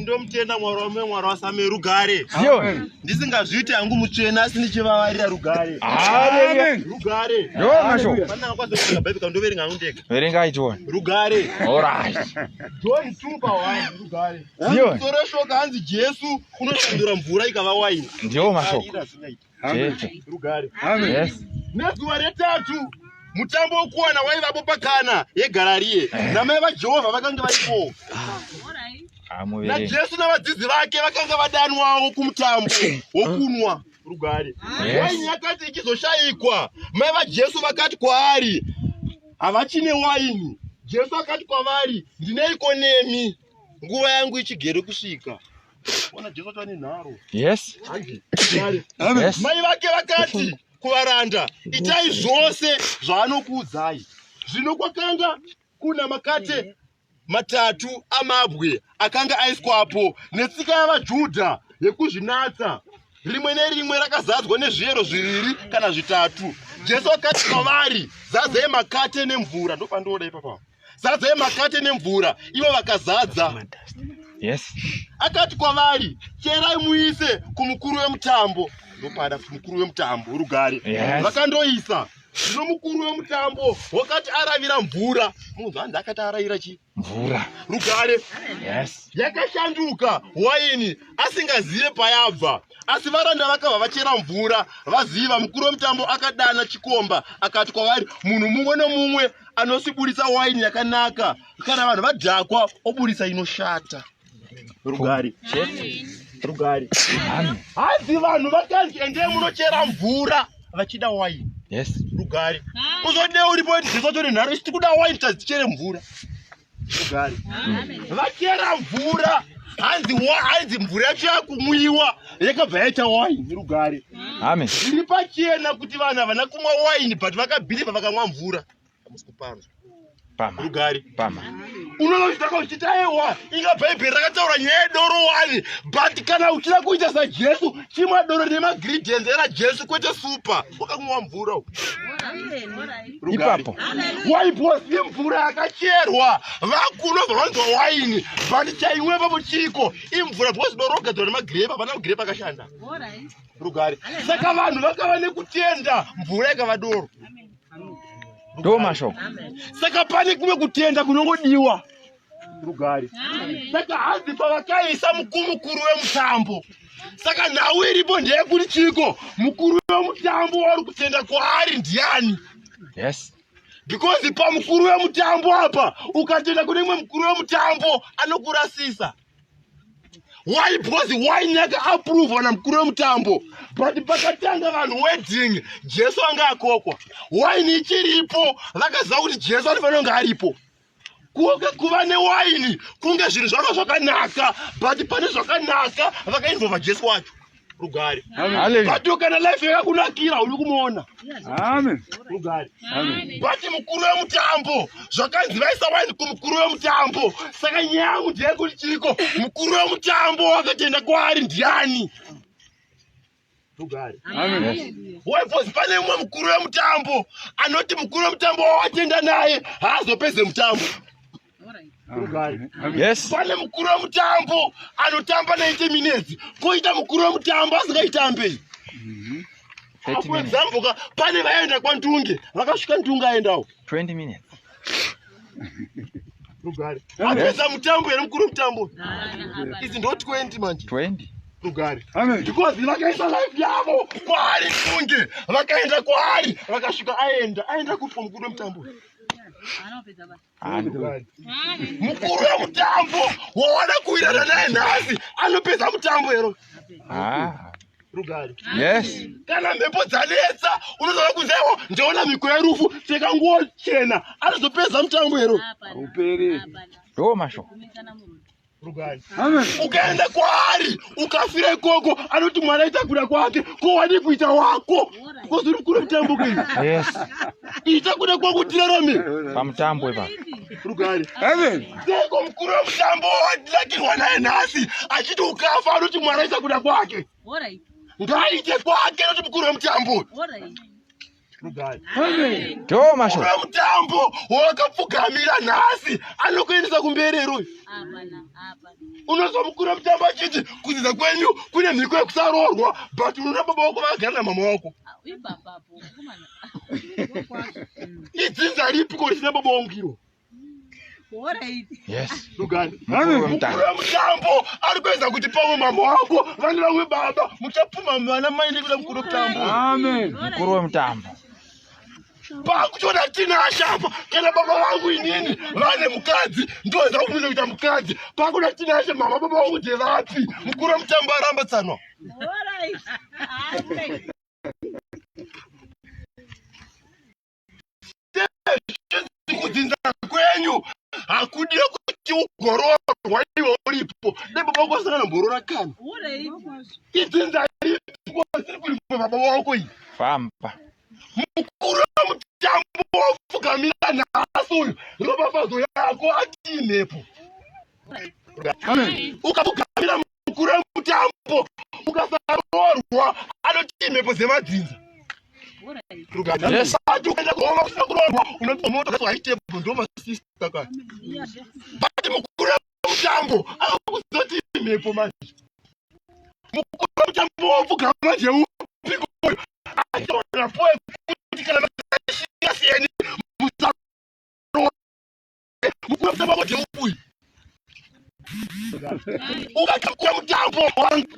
ndomutenda mwari wame mwari wasame rugare ndisingazviiti hangu mutsvene asi ndichivavarira rugare rugare ndoverenga hangu ndega verengai john rugare john two pa one rugare soro shoka hanzi jesu unoshandura mvura ikava waini ndiwo mashoko nezuva retatu mutambo wokuwana waivapo pakana yegarariye namai vajehovha vakange varipo najesu navadzidzi vake vakanga vadanwawo kumutambo wokunwa rugare waini yakati ichizoshayikwa mai vajesu vakati kwaari havachine waini jesu akati kwavari ndineiko nemi nguva yangu ichigere kusvika ona jesu acho ane nharo yes yes mai vake vakati kuvaranda itai zvose zvaanokuudzai zvino kwakanga kuna makate matatu amabwe akanga aiswapo netsika yavajudha yekuzvinatsa rimwe nerimwe rakazadzwa nezviyero zviviri kana zvitatu jesu akati kwavari zadzei makate nemvura ndopandooda ipapaa zadzai makate nemvura ivo vakazadza yes akati kwavari cherai muise kumukuru wemutambo ndopada kuti mukuru wemutambo rugare yes. vakandoisa zvino mukuru wemutambo wakati aravira mvura munhu hanzi akati aravira chi mvura rugare yes. yakashanduka waini asingazive payabva asi varanda vakabva vachera mvura vaziva mukuru wemutambo akadana chikomba akati kwavari munhu mumwe nomumwe anosiburitsa waini yakanaka kana vanhu vadhakwa oburitsa inoshata rugari rugari hanzi vanhu vakanzi endei munochera mvura vachida waini yes rugari kuzodei uripo ndizotori nharo isiti kuda waini tadzichere mvura vachera mvura hanzi hanzi mvura yacho yakumwiwa yakabva yaita waini rugare ame zviri pachena kuti vanhu havana kumwa waini but vakabhiliva vakamwa mvura hamusi kupanzwa pama rugare pama unonozvitaka uchiti aiwa inga bhaibheri rakataura nyaya yedoro wani but kana uchida kuita sajesu chimwa doro nemagridients era jesu kwete super wakanwa mvura ipapo waiposi imvura yakacherwa vakuno vanonzwa waini but chaimwe papo chiko imvura because dorogadzirwa nemagrepa pana magrepa akashanda rugare saka vanhu vakava nekutenda mvura ikava doro ndo mashoko saka pane kumwe kutenda kunongodiwa rugare saka hanzi pavakaisa mukurukuru wemutambo saka nhau iripo ndeyekuti chiko mukuru wemutambo wauri kutenda kwaari ndiani yes because pamukuru wemutambo apa ukatenda kune imwe mukuru wemutambo anokurasisa why because why nyaka approve na mukuru wemutambo but pakatanga vanhu wedding jesu anga akokwa why nichiripo vakaziva kuti jesu anofanira kunge aripo kunge kuva newaini kunge zvinhu zvanga zvakanaka but pane zvakanaka vakainvova jesu wacho rugare but kana life yakakunakira uri kumuona rugare but mukuru wemutambo zvakanzi vaisa waini kumukuru wemutambo saka nyaya yangu ndeyekuti chiriko mukuru wemutambo wakatenda kwaari ndiani tugare webos pane umwe mukuru wemutambo anoti mukuru wemutambo wawatenda naye haazopeze mutambo pane mukuru wemutambo anotamba 90 minutes koita mukuru wemutambo asingaitambeyi mhm. apo zambuka pane vaenda kwantunge vakasvika ntunge aendawo 20 minutes rugare apedza mutambo here mukuru mutambo izi ndo 20 manje 20 rugare because vakaisa life yavo kwaari kunge vakaenda kwaari vakasvika aenda aenda kupi mukuru wemutambo mukuru wemutambo wawana kuwirana naye nhasi anopedza mutambo hero rugare yes kana mhepo dzanetsa unozoda kunzaiwo ndaona mhiko yerufu pfeka nguo chena anozopedza mutambo hero uperi ndo masho rugare Amen. ukaenda kwaari ukafira ikoko anoti mwana itakuda kwake ko wadi kuita wako Because uri kure mutambo kwenyu. Yes. Ita kuda kwa kutira rame. Pamutambo ipa. Rugare. Heaven. Seko mkuru wa mutambo watilakirwa naye nhasi achiti ukafa anoti mwari aisa kuda kwake. Alright. Ngaite kwake anoti mkuru wa mutambo. Alright. Tomasho. Ura mutambo wakapfugamira nhasi anokuendesa kumberi ruyu. Hapana, hapana. unozomukura mutambo achiti kudzidza kwenyu kune mhiko yekusaroorwa but unoda baba wako vaagara namama wako idzinza ripi ko risina baba wangu iro mutambo ari kuedza kuti pamwe mama wako vane vamwe baba muchapfuma mwana mai nekuda mukuru wemutambo mukuru wemutambo pakutoda tinasha apa kana baba vangu inini vane mukadzi ndoenda kumiza kuita mukadzi pakuda tinasha mama baba vangu ndevapi mukuru wemutambo aramba tsanwa kudzinza kwenyu hakudire kuti ugororwa iwe uripo dai baba vako vasangana mborora kana idzinza ripo siri kulipo baba vako iyi famba mukuru wemutambo wapfugamira nhasi uyu ropafadzo yako atiinepo ukapfugamira mukuru wemutambo ukasaroorwa anotiinepo dzemadzinza ati ukaenda kuhova kusina kuroorwa unopiwa moto kati waitebho ndo masista ka bati mukuru wemutambo akuzoti inepo manje mukuru wemutambo wapfugama jeupi koyo ukakakura mutambo wangu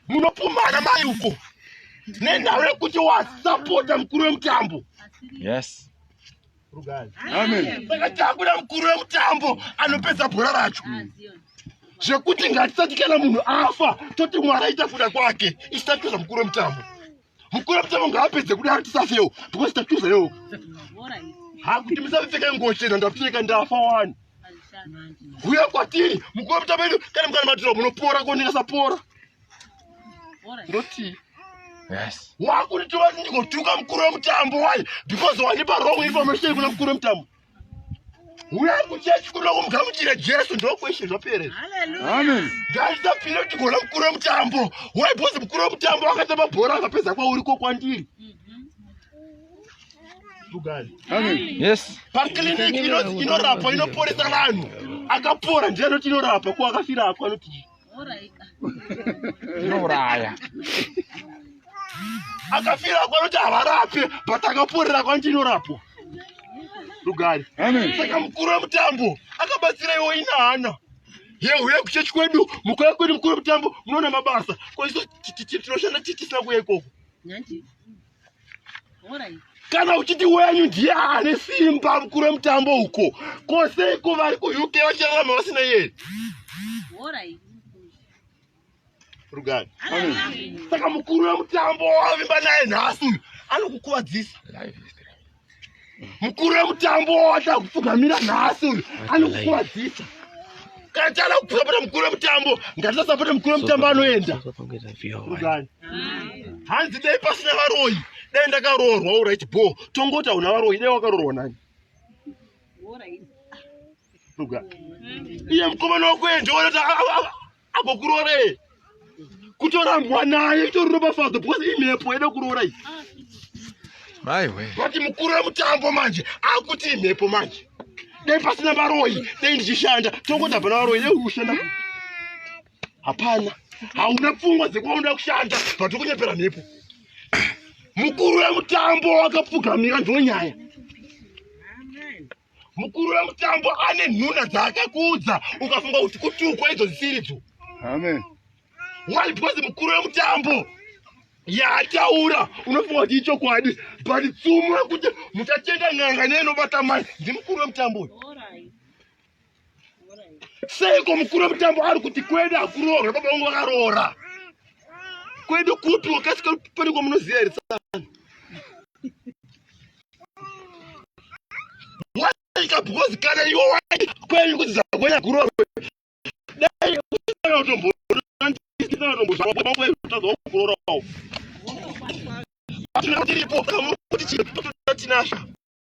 munopumhana mai uko nenhau yekuti wasapota mukuru wemutambo yes ndakatambura mukuru wemutambo anopedza bhora racho zvekuti ngatisati kana munhu afa toti mwari aita kuda kwake isati kuza mukuru wemutambo mukuru wemutambo ngaapedze kudaro tisafewo because tatiuza yo hakuti musapfeka nguo chena ndapfeka ndafa wani huya kwatiri mukuru wemutambo edu kana mukana matiro munopora ko ndingasapora ndoti yes wakuri tova ndingotuka mukuru wemutambo why because wanipa wrong information kuna mukuru wemutambo uya kuchechi kuda kumugamuchira jesu ndokweshe zvapere ngaisapire kuti gona mukuru wemutambo waibhozi mukuru wemutambo wakatamba bhora akapedza kwauri ko kwandiri pakiliniki inorapa inoporesa vanhu akapora ndiye anoti inorapa ko akafira ako anoti zvinouraya akafira kwanoti havarape but akaporera kwanoti inorapwa rugare saka mukuru wemutambo akabatsira iwo ina hana yehuye kuchechi kwedu mukuya kwedu mukuru wemutambo munoona mabasa koiso tinoshanda tisina kuya ikoko kana uchiti wenyu ndiye ane simba mukuru wemutambo uko ko seiko vari kuuk vachirarama vasina yeye rugani saka mukuru wemutambo wavimba naye nhasi uyu anokukuvadzisa mukuru wemutambo wawada kupfugamira nhasi uyu anokukwadzisa kana tiada kupfugamira mukuru wemutambo ngatisasapote mukuru wemutambo anoenda hanzi dai pasina varoyi dai ndakaroorwa urit bo tongoti hauna varoyi dai wakaroorwa nani iye mukomana wakuendeonota agokurore kutora mwana yekuto ropa father because imhepo ida kurora iyi maiwe vati mukuru wemutambo manje akuti imhepo manje dai pasina varoyi dai ndichishanda tongoti hapana varoyi dai kushanda hapana hauna pfungwa dzekuvaonoda kushanda vati kunyepera mhepo mukuru wemutambo wakapfugamira ndonyaya mukuru wemutambo ane nhuna dzaakakuudza ukafunga kuti kutukwa idzo dzisiridzo amen why because mukuru wemutambo yaataura unofunga kuti ichokwadi but tsumo yekuti muchatenga n'anga neinobata mai ndimukuru wemutambo uyu Seiko mukuru wemutambo ari kuti kwedu hakuroorwe baba vangu vakaroora? Kwedu kupi wakasika pane kwamunoziva here tsana? Waika because kana iwe waiti kwenyu kuti zakwenya kuroorwe. Dai usina utombo ndisina utombo zvakwa kwedu tadza kuroora. Hatina tiripo kuti chiri tinasha.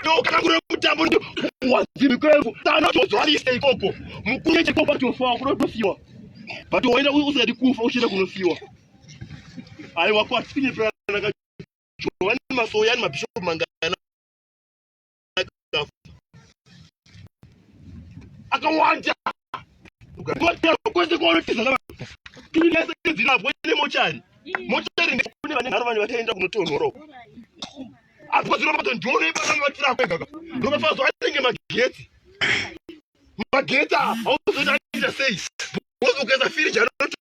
ndokakura mutambo ndi wazimi kwevu tana tozwarisa ikoko mukuru chekoko patofa kunotosiwa but waenda usingadi kufa uchienda kunosiwa aiwa kwatine pranaka johani masoya ni mabishopu mangana akawanda kwese kwaunotizana vanhu tiri nese dzirapwe nemochari mochari ndekune vane nharo vanhu vataenda kunotonhora uko apo kwazirova padzo ndione ipatange vatirapwe kaka rova fazo atenge magetsi magetsi a hauzoita aita sei bozi ukaisa firiji anoti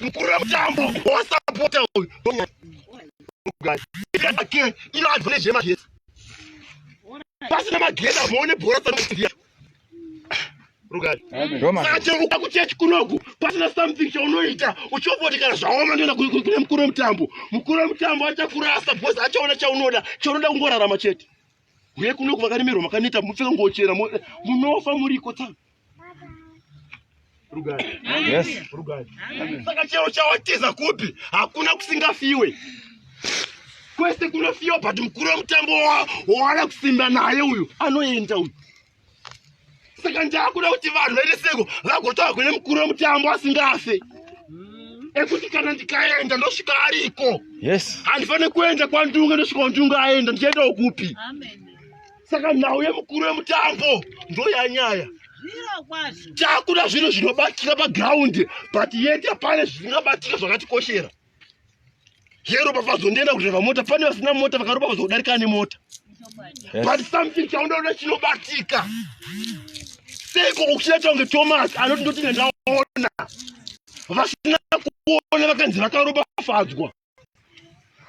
mukuru wemutambo wosapota uyu ino adva nezvemagesi pasina magesi amoone bhora saia rugari saka chero uka kuchechi kunoku pasina something chaunoita uchiombotikana zvaoma ndoenda kune mukuru wemutambo mukuru wemutambo achakurasa bhozi achaona chaunoda chaunoda kungorarama chete uye kunoku vakaremerwa makaneta mupfeka ngochera munofa muriko tanga saka chero chawatiza kupi hakuna kusingafiwe kwese kunofiwa but mukuru wemutambo wawana kusimba naye uyu anoenda uyu saka ndaakuda kuti vanhu vaite seko vagotaura kune mukuru wemutambo asingafe mm. ekuti kana ndikaenda ndosvika ariko yes handifanire kuenda kwandunga ndosvika wandunga aenda ndichiendawo kupi Amen. saka nhau yemukuru wemutambo ndoyanyaya takuda zvinhu zvinobatika pagraundi but yet apane zvisingabatika zvakatikoshera zveropafadzwa ndienda kudriva mota pane vasina mota vakaropafadzwa kudarika ane mota but something chaunoda chinobatika seiko kuchita change thomas anoti ndoti ndandaona vasina kuona vakanzi vakaropafadzwa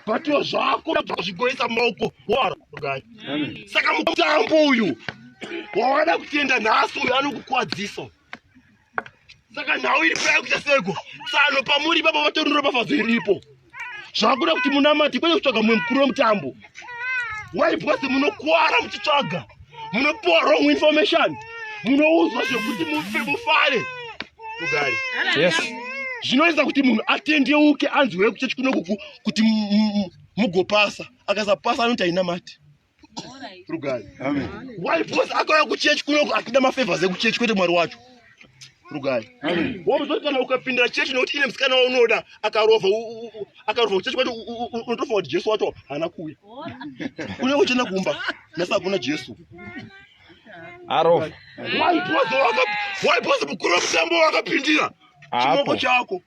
batiwa zvako zvigoisa maoko wara gai saka mutambo uyu wawada kutenda nhasi uyu anokukwadzisa saka nhau iri paya kuita seko tsano pamuri baba vatorunura bafadzo iripo zvakuda kuti munamati kwete kutsvaga mumwe mukuru wemutambo waibwase munokwara muchitsvaga munopiwa wrong information munoudzwa zvekuti mufe mufare mugari yes zvinoita kuti munhu atendeuke anzwire kuchechi kuno kuku kuti mugopasa akasapasa anoti haina mati rugari why because akauya kuchechi kuno akida mafavors ekuchechi kwete mwari wacho rugai womuzoti kana ukapindira chechi nokuti ine musikana waunoda akarova akarova kuchechi kwati unotofa kuti jesu wacho haana kuuya une uchena kumba nasa hakuna jesu arova waipoza mukuru wemutambo wakapindira chimoko chako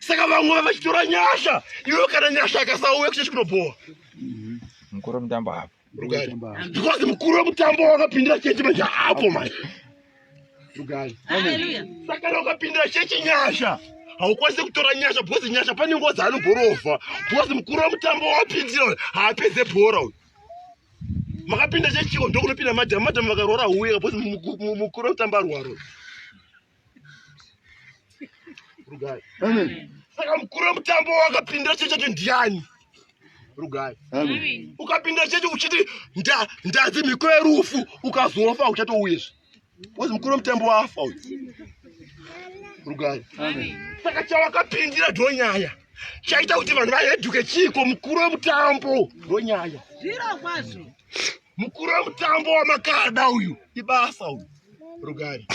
saka vamwe vava vachitora nyasha iwe kana nyasha akasauya kuchechi kunobhowa mhm. mukuru wemutambo hapo rugari because mukuru wemutambo wakapindira chechi manje hapo manje rugari saka kana ukapindira chechi nyasha haukwanisi kutora nyasha because nyasha pane nguva dzaanogorova because mukuru wemutambo wapindira haapedze bhora uyu makapinda chechiko ndokunopinda madhama madhama vakaroora huye because mukuru wemutambo arwaro Rugai. Amen. Saka mkuru wemutambo wakapinda cheche kuti ndiani? Rugai. Amen. Ukapinda cheche uchiti nda ndazi mhiko yerufu ukazofa uchatouyezve. Wozi mkuru wemutambo wafa uyu. Rugai. Amen. Saka chawakapindira ndonyaya. Chaita kuti vanhu vaheduke chiko mkuru wemutambo ndonyaya. Zviro kwazvo. Mukuru wemutambo wamakada uyu ibasa uyu rugari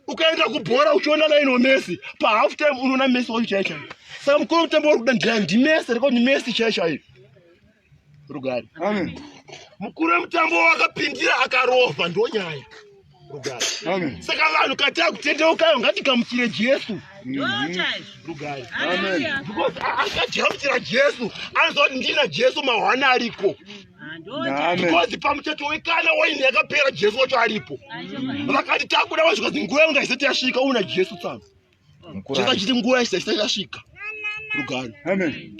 ukaenda kubhora uchiona laino mesi pahalf time unoona mesi wacho chai chai saka mukuru wemutambo wari kuda ndira ndimesi reko ndimesi chai chai rugari mukuru wemutambo wakapindira akarova ndonyaya saka vanhu kataa kutendeukayo ngatikamuchire jesu because akagamuchira jesu anoziva kuti ndina jesu mahwana ariko because pamuchato wekana waini yakapera jesu wacho aripo vakati takuda vazvikazi nguva yangu ngaisati yasvika una jesu tsano Cheka chiti nguva isati yasvika. Rugare. Amen.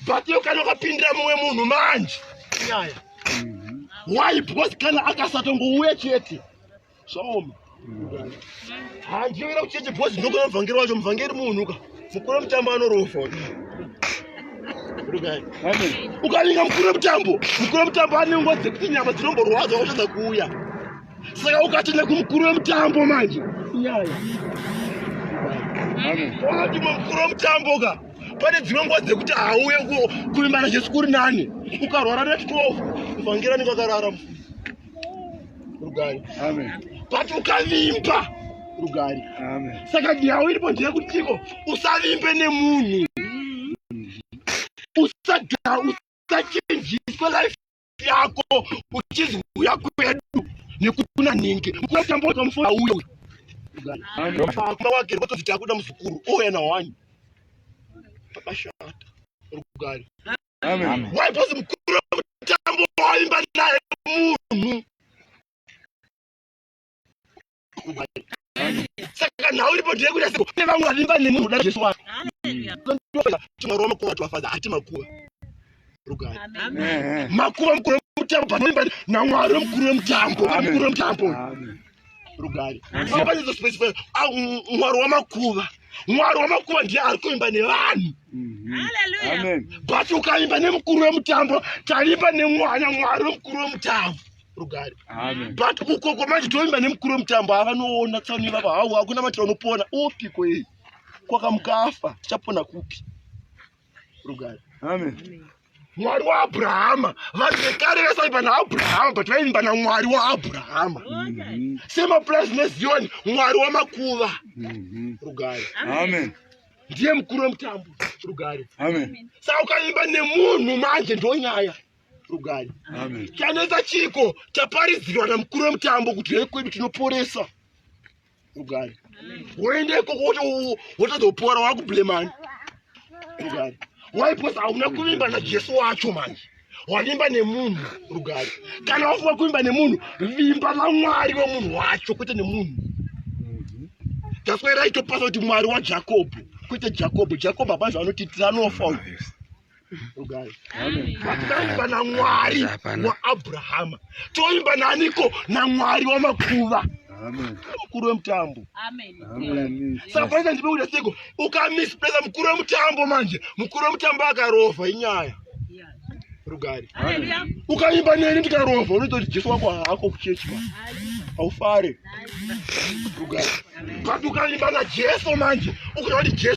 But you kana ukapindira mumwe munhu manje. Nyaya. Why because kana akasatongouya chete. Zvaoma. Handiwira kucheche because ndokona muvhangeri wacho muvhangeri munhu ka. Mukuru mutambo anorofa. Ukavinga mukuru mutambo, mukuru mutambo anengwa dzekuti nyama dzinomborwadza wotadza kuuya. saka ukatenda kumukuru wemutambo manje nyaya wati mukuru wemutambo ka pane dzimwe nguva dzekuti hauye kuvimbana jesu kuri nani ukarwara ne 12 vhangera ninge akarara mufuni rugari but ukavimba rugari saka nhau iripo ndeyekutiko usavimbe nemunhu usachenjiswe life yako uchizi uya kwedu nekuti kuna nhingi unatamboka mufona uyo uyo akuma wake rikotoziti akuda muzukuru ouya nawani pakashata rugare waipozi mukuru wemutambo waimba naye munhu saka nhau iripo ndeye kuita seko ne vamwe vavimba nemunhu uda jesu wako timaroma kuva twafadza hati makuva rugari makuva mukuru wemutambo panoimba namwari wemukuru wemutambo mukuru wemutambo rugari apanezo space fe ah, mwari wamakuva mwari wamakuva ndiye ari kuimba nevanhu mhm. but ukaimba nemukuru wemutambo taimba nemwana mwari wemukuru wemutambo rugare but ukoko manje toimba nemukuru wemutambo avanoona tsaona ivava hau hakuna matira unopona opiko iyi kwakamukafa tichapona kupi rugare mwari waabrahama vanhu vekare vesaiva naabrahama but vaimba namwari waabrahama mhm. semapurazi neziyoni mwari wamakuva mhm. rugare amen ndiye mukuru wemutambo rugare saka ukaimba nemunhu manje ndonyaya rugare chanetsa chiko chaparidzirwa namukuru wemutambo kuti hei kwedu tinoporesa rugare woenda ikoko wotozopora wakublemani rugare waipos hauna kuvimba najesu wacho manje wavimba nemunhu rugare kana wafunga kuvimba nemunhu vimba namwari wemunhu wacho kwete nemunhu taswera itopasa kuti mwari wajakobho kwete jakobho jakobho hapana zvaanotiitira anofa uyu rugare hatidaimba namwari waabrahama toimba naniko namwari wamakuva mukuru wemutambo sapaita ndipekuda seko ukamispresa mukuru wemutambo manje mukuru wemutambo akarova inyaya rugare ukaimba neni ndikarova unototi jesu wako haako kuchechi haufare rugare but ukaimba najesu manje ukuti jesu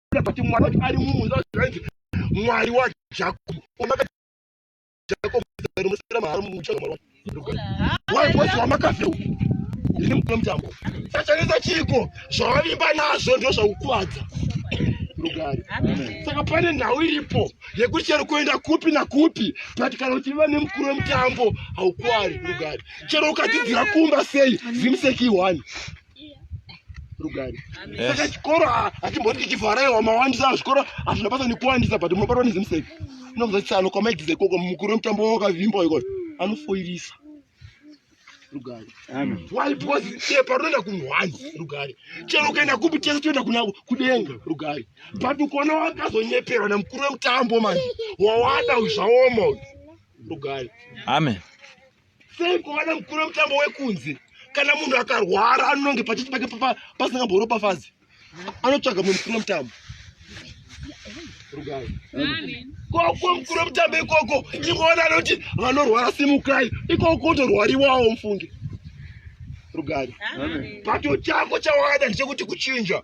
kuti mwana wacho ari mumunda zvainzi mwari wajakobo omakajakobo zarimusira mahara muchana mwari wacho wai kwese wamakafeu ndiri mukuna mutambo sachanetsa chiiko zvawavimba nazvo ndo zvakukuvadza rugare saka pane nhau iripo yekuti chero kuenda kupi nakupi but kana uchiva nemukuru wemutambo haukwari rugare chero ukadzidzira kumba sei zimseki one rugare saka chikoro hachimboti chichivaraiwa mawandisa zvikoro hazvina basa nekuwandisa but munobatwa nezimuseve inokuza tsano kwamaigiza ikoko mukuru wemutambo wakavimba ikoyo anofoirisa rugare why because iye parunoenda kumhwani rugare chero ukaenda kupi tese toenda kuna kudenga rugare but ukona wakazonyeperwa nemukuru wemutambo manje wawada zvaoma rugare amen Sei kuwana mukuru wemutambo wekunze kana munhu akarwara anonge pachiti pake pasingamboropafadzi anotsvaga mumwe mukuru wemutambo koko mukuru wemutambo ikoko ivona anoti vanorwara simukai ikoko kotorwariwawo mufunge rugari pato chako chawada ndechekuti kuchinja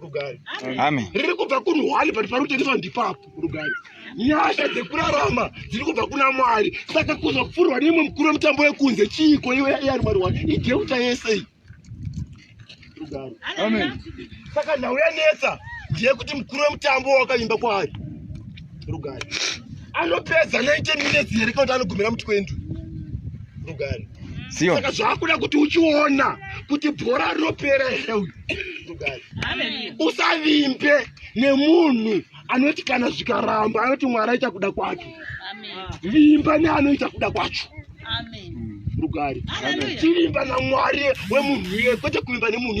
rugare Amen. riri kubva kuri hwani pati pari kutengeswa ndipapo rugare nyasha dzekurarama dziri kubva kuna mwari saka kuzopfurwa neimwe mukuru wemutambo wekunze chiiko iwe yari mwari wani ideuta yese iyi rugare Amen. saka nhau yanetsa ndeyekuti mukuru wemutambo wakaimba kwaari rugare anopedza 90 minutes here kana kuti anogumira mu 20 rugare Sio. saka zvaakuda kuti uchiona kuti bhora rinopera here uyu usavimbe nemunhu anoti kana zvikaramba anoti mwari aita kuda kwacho vimba neanoita kuda kwacho rugare tivimba namwari wemunhu iye kwete kuvimba nemunhu